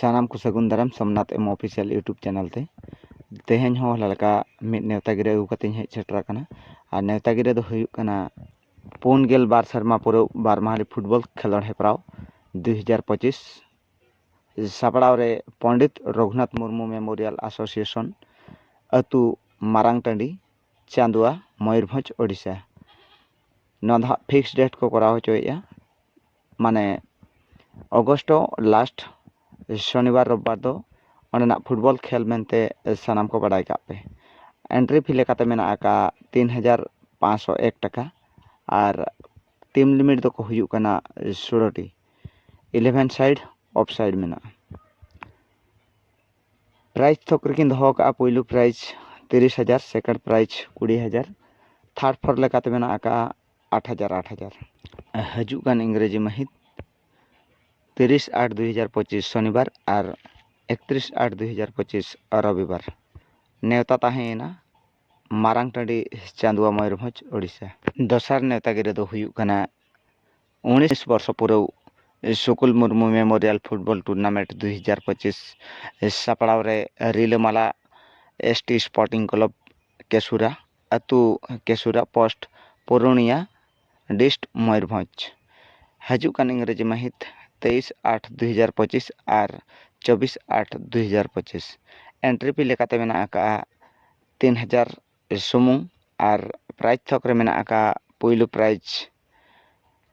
ᱥᱟᱱᱟᱢ ᱠᱚ ᱥᱟᱹᱜᱩᱱ ᱫᱟᱨᱟᱢ Somnath M official YouTube channel ᱛᱮ ᱛᱮᱦᱮᱧ ᱦᱚᱸ ᱚᱱᱟ ᱞᱮᱠᱟ ᱢᱤᱫ ᱱᱮᱶᱛᱟ ᱜᱤᱨᱟᱹ ᱟᱹᱜᱩ ᱠᱟᱛᱮᱫ ᱤᱧ ᱦᱮᱡ ᱥᱮᱴᱮᱨ ᱟᱠᱟᱱᱟ ᱟᱨ ᱱᱮᱶᱛᱟ ᱜᱤᱨᱟᱹ ᱫᱚ ᱦᱩᱭᱩᱜ ᱠᱟᱱᱟ ᱯᱩᱱ ᱜᱮᱞ ᱵᱟᱨ ᱥᱮᱨᱢᱟ ᱯᱩᱨᱟᱹᱣ ᱵᱟᱨ ᱢᱟᱦᱟᱞᱤ ᱯᱷᱩᱴᱵᱚᱞ ᱠᱷᱮᱞᱳᱰ ᱦᱮᱯᱨᱟᱣ ᱫᱩ ᱦᱟᱡᱟᱨ ᱯᱚᱸᱪᱤᱥ ᱥᱟᱯᱲᱟᱣ ᱨᱮ ᱯᱚᱱᱰᱤᱛ ᱨᱚᱜᱷᱩᱱᱟᱛᱷ ᱢᱩᱨᱢᱩ ᱢᱮᱢᱳᱨᱤᱭᱟᱞ ᱮᱥᱳᱥᱤᱭᱮᱥᱚᱱ ᱟᱹᱛᱩ ᱢᱟᱨᱟᱝ ᱴᱟᱺᱰᱤ ᱪᱟᱸᱫᱽᱣᱟ ᱢᱚᱭᱩᱨᱵᱷᱚᱸᱡᱽ ᱳᱰᱤᱥᱟ ᱱᱚᱣᱟ ᱫᱚ ᱦᱟᱸᱜ ᱯᱷᱤᱠᱥᱰ ᱰᱮᱴ ᱠᱚ ᱠᱚᱨᱟᱣ ᱦᱚᱪᱚᱭᱮᱫᱼᱟ ᱢᱟᱱᱮ ᱚᱜᱚᱥᱴᱚ ᱞᱟᱥᱴ ᱥᱚᱱᱤᱵᱟᱨ ᱨᱳᱵᱽᱵᱟᱨ ᱫᱚ ᱚᱸᱰᱮᱱᱟᱜ ᱯᱷᱩᱴᱵᱚᱞ ᱠᱷᱮᱞ ᱢᱮᱱᱛᱮ ᱥᱟᱱᱟᱢ ᱠᱚ ᱵᱟᱲᱟᱭ ᱠᱟᱜ ᱯᱮ ᱮᱱᱴᱨᱤ ᱯᱷᱤ ᱞᱮᱠᱟᱛᱮ ᱢᱮᱱᱟᱜ ᱟᱠᱟᱜᱼᱟ ᱛᱤᱱ ᱦᱟᱡᱟᱨ ᱯᱟᱸᱥᱥᱳ ᱮᱠ ᱴᱟᱠᱟ ᱟᱨ ᱴᱤᱢ ᱞᱤᱢᱤᱴ ᱫᱚᱠᱚ ᱦᱩᱭᱩᱜ ᱠᱟᱱᱟ ᱥᱳᱞᱳᱴᱤ ᱤᱞᱮᱵᱷᱮᱱ ᱥᱟᱭᱤᱰ ᱚᱯᱷ ᱥᱟᱭᱤᱰ ᱢᱮᱱᱟᱜᱼᱟ ᱯᱨᱟᱭᱤᱡᱽ ᱛᱷᱚᱠ ᱨᱮᱠᱤᱱ ᱫᱚᱦᱚ ᱟᱠᱟᱜᱼᱟ ᱯᱳᱭᱞᱳ ᱯᱨᱟᱭᱤᱡᱽ ᱛᱤᱨᱤᱥ ᱦᱟᱡᱟᱨ ᱥᱮᱠᱮᱱᱰ ᱯᱨᱟᱭᱤᱡᱽ ᱠᱩᱲᱤ ᱦᱟᱡᱟᱨ ᱛᱷᱟᱨᱰ ᱯᱷᱳᱨ ᱞᱮᱠᱟᱛᱮ ᱢᱮᱱᱟᱜ ᱟᱠᱟᱜᱼᱟ ᱟᱴ ᱦᱟᱡᱟᱨ ᱟᱴ ᱦᱟᱡᱟᱨ ᱦᱤᱡᱩᱜ ᱠᱟᱱ ᱤᱝᱨᱮᱡᱤ ᱢᱟᱹᱦᱤᱛ ᱛᱤᱨᱤᱥ ᱟᱴ ᱫᱩ ᱦᱟᱡᱟᱨ ᱯᱚᱸᱪᱤᱥ ᱥᱚᱱᱤᱵᱟᱨ ᱟᱨ ᱮᱠᱛᱨᱤᱥ ᱟᱴ ᱫᱩ ᱦᱟᱡᱟᱨ ᱯᱚᱸᱪᱤᱥ ᱨᱚᱵᱤᱵᱟᱨ ᱱᱮᱣᱛᱟ ᱛᱟᱦᱮᱸᱭᱮᱱᱟ ᱢᱟᱨᱟᱝ ᱴᱟᱺᱰᱤ ᱪᱟᱸᱫᱽᱣᱟ ᱢᱚᱭᱩᱨᱵᱷᱚᱸᱡᱽ ᱳᱰᱤᱥᱟ ᱫᱚᱥᱟᱨ ᱱᱮᱣᱛᱟ ᱜᱤᱨᱟᱹ ᱫᱚ ᱦᱩᱭᱩᱜ ᱠᱟᱱᱟ ᱩᱱᱤᱥ ᱵᱚᱨᱥᱚ ᱯᱩᱨᱟᱹᱣ school Murmu memorial football tournament ᱫᱩ ᱦᱟᱡᱟᱨ ᱯᱚᱸᱪᱤᱥ ᱥᱟᱯᱲᱟᱣ ᱨᱮ ᱨᱤᱞᱟᱹᱢᱟᱞᱟ ᱮᱥ ᱴᱤ ᱥᱯᱳᱨᱴᱤᱝ ᱠᱞᱟᱵᱽ ᱠᱮᱥᱩᱨᱟ ᱟᱹᱛᱩ ᱠᱮᱥᱩᱨᱟ ᱯᱳᱥᱴ ᱯᱩᱨᱩᱱᱤᱭᱟ ᱰᱤᱥᱴ ᱢᱚᱭᱩᱨᱵᱷᱚᱸᱡᱽ ᱦᱤᱡᱩᱜ ᱠᱟᱱ ᱤᱝᱨᱮᱡᱤ ᱢᱟᱹᱦᱤᱛ ᱛᱮᱭᱤᱥ ᱟᱴ ᱫᱩ ᱦᱟᱡᱟᱨ ᱯᱚᱸᱪᱤᱥ ᱟᱨ ᱪᱚᱵᱽᱵᱤᱥ ᱟᱴ ᱫᱩ ᱦᱟᱡᱟᱨ ᱯᱚᱸᱪᱤᱥ ᱮᱱᱴᱨᱤ ᱯᱷᱤ ᱞᱮᱠᱟᱛᱮ ᱢᱮᱱᱟᱜ ᱟᱠᱟᱫᱼᱟ ᱛᱤᱱ ᱦᱟᱡᱟᱨ ᱥᱩᱢᱩᱝ ᱟᱨ ᱯᱨᱟᱭᱤᱡᱽ ᱛᱷᱚᱠ ᱨᱮ ᱢᱮᱱᱟᱜ ᱟᱠᱟᱫᱼᱟ ᱯᱳᱭᱞᱳ ᱯᱨᱟᱭᱤᱡᱽ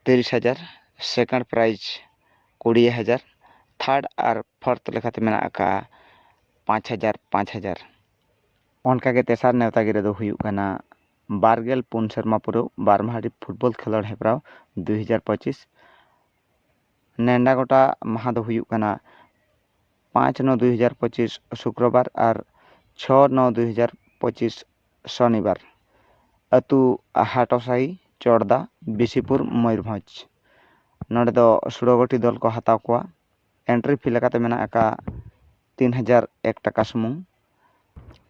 ᱛᱤᱨᱤᱥ ᱦᱟᱡᱟᱨ ᱥᱮᱠᱮᱱᱰ ᱯᱨᱟᱭᱤᱡᱽ ᱠᱩᱲᱤ ᱦᱟᱡᱟᱨ ᱛᱷᱟᱨᱰ ᱟᱨ ᱯᱷᱳᱨᱛᱷ ᱞᱮᱠᱟᱛᱮ ᱢᱮᱱᱟᱜ ᱟᱠᱟᱫᱼᱟ ᱯᱟᱸᱪ ᱦᱟᱡᱟᱨ ᱯᱟᱸᱪ ᱦᱟᱡᱟᱨ ᱚᱱᱠᱟᱜᱮ ᱛᱮᱥᱟᱨ ᱱᱮᱣᱛᱟ ᱜᱤᱨᱟᱹ ᱫᱚ ᱦᱩᱭᱩᱜ ᱠᱟᱱᱟ ᱵᱟᱨ ᱜᱮᱞ ᱯᱩᱱ ᱥᱮᱨᱢᱟ ᱯᱩᱨᱟᱹᱣ ᱵᱟᱨ ᱢᱟᱦᱟᱨᱤ ᱯᱷᱩᱴᱵᱚᱞ ᱠᱷᱮᱞᱳᱰ ᱦᱮᱯᱨᱟᱣ ᱫᱩᱭ ᱦᱟᱡᱟᱨ ᱯᱚᱸᱪᱤᱥ ᱱᱮᱰᱟ ᱜᱚᱴᱟ ᱢᱟᱦᱟ ᱫᱚ ᱦᱩᱭᱩᱜ ᱠᱟᱱᱟ ᱯᱟᱸᱪ ᱱᱚ ᱫᱩᱭ ᱦᱟᱡᱟᱨ ᱯᱚᱸᱪᱤᱥ ᱥᱩᱠᱨᱚ ᱵᱟᱨ ᱟᱨ ᱪᱷᱚ ᱱᱚ ᱫᱩᱭ ᱦᱟᱡᱟᱨ ᱯᱚᱸᱪᱤᱥ ᱥᱚᱱᱤ ᱵᱟᱨ ᱟᱹᱛᱩ ᱦᱟᱴᱚ ᱥᱟᱹᱦᱤ ᱪᱚᱲᱫᱟ ᱵᱤᱥᱤᱯᱩᱨ ᱢᱚᱭᱩᱨᱵᱷᱚᱸᱡᱽ ᱱᱚᱰᱮ ᱫᱚ ᱥᱩᱲᱟᱹ ᱜᱩᱴᱷᱤ ᱫᱚᱞ ᱠᱚ ᱦᱟᱛᱟᱣ ᱠᱚᱣᱟ ᱮᱱᱴᱨᱤ ᱯᱷᱤ ᱞᱮᱠᱟᱛᱮ ᱢᱮᱱᱟᱜ ᱟᱠᱟᱫ ᱛᱤᱱ ᱦᱟᱡᱟᱨ ᱮᱠ ᱴᱟᱠᱟ ᱥᱩᱢᱩᱝ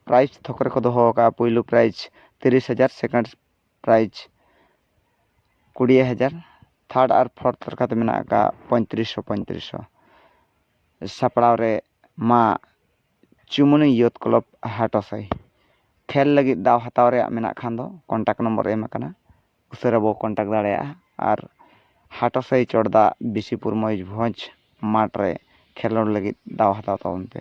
ᱯᱨᱟᱭᱤᱡᱽ ᱛᱷᱚᱠ ᱨᱮᱠᱚ ᱫᱚᱦᱚ ᱟᱠᱟᱫᱼᱟ ᱯᱳᱭᱞᱳ ᱯᱨᱟᱭᱤᱡᱽ ᱛᱤᱨᱤᱥ ᱦᱟᱡᱟᱨ ᱥᱮᱠᱮᱱᱰ ᱯᱨᱟᱭᱤᱡᱽ ᱠᱩᱲᱤ ᱦᱟᱡᱟᱨ ᱛᱷᱟᱨᱰ ᱟᱨ ᱯᱷᱳᱨᱛᱷ ᱞᱮᱠᱟᱛᱮ ᱢᱮᱱᱟᱜ ᱟᱠᱟᱫ ᱯᱚᱸᱭᱛᱨᱤᱥ ᱥᱚ ᱯᱚᱸᱭᱛᱨᱤᱥ ᱥᱚ ᱥᱟᱯᱲᱟᱣ ᱨᱮ ᱢᱟ ᱪᱩᱢᱩᱱᱤ ᱭᱩᱛᱷ ᱠᱞᱟᱵᱽ ᱦᱟᱴᱟᱥᱟᱭ ᱠᱷᱮᱞ ᱞᱟᱹᱜᱤᱫ ᱫᱟᱣ ᱦᱟᱛᱟᱣ ᱨᱮᱭᱟᱜ ᱢᱮᱱᱟᱜ ᱠᱷᱟᱱ ᱫᱚ ᱠᱚᱱᱴᱟᱠᱴ ᱱᱚᱢᱵᱚᱨ ᱮᱢ ᱟᱠᱟᱱᱟ ᱩᱥᱟᱹᱨᱟ ᱵᱚ ᱠᱚᱱᱴᱟᱠᱴ ᱫᱟᱲᱮᱭᱟᱜᱼᱟ ᱟᱨ ᱦᱟᱴᱟᱥᱟᱭ ᱪᱚᱴ ᱫᱟᱜ ᱵᱤᱥᱤᱯᱩᱨ ᱢᱚᱭᱩᱨᱵᱷᱚᱸᱡᱽ ᱢᱟᱴᱷ ᱨᱮ ᱠᱷᱮᱞᱳᱰ ᱞᱟᱹᱜᱤᱫ ᱫᱟᱣ ᱦᱟᱛᱟᱣ ᱛᱟᱵᱚᱱ ᱯᱮ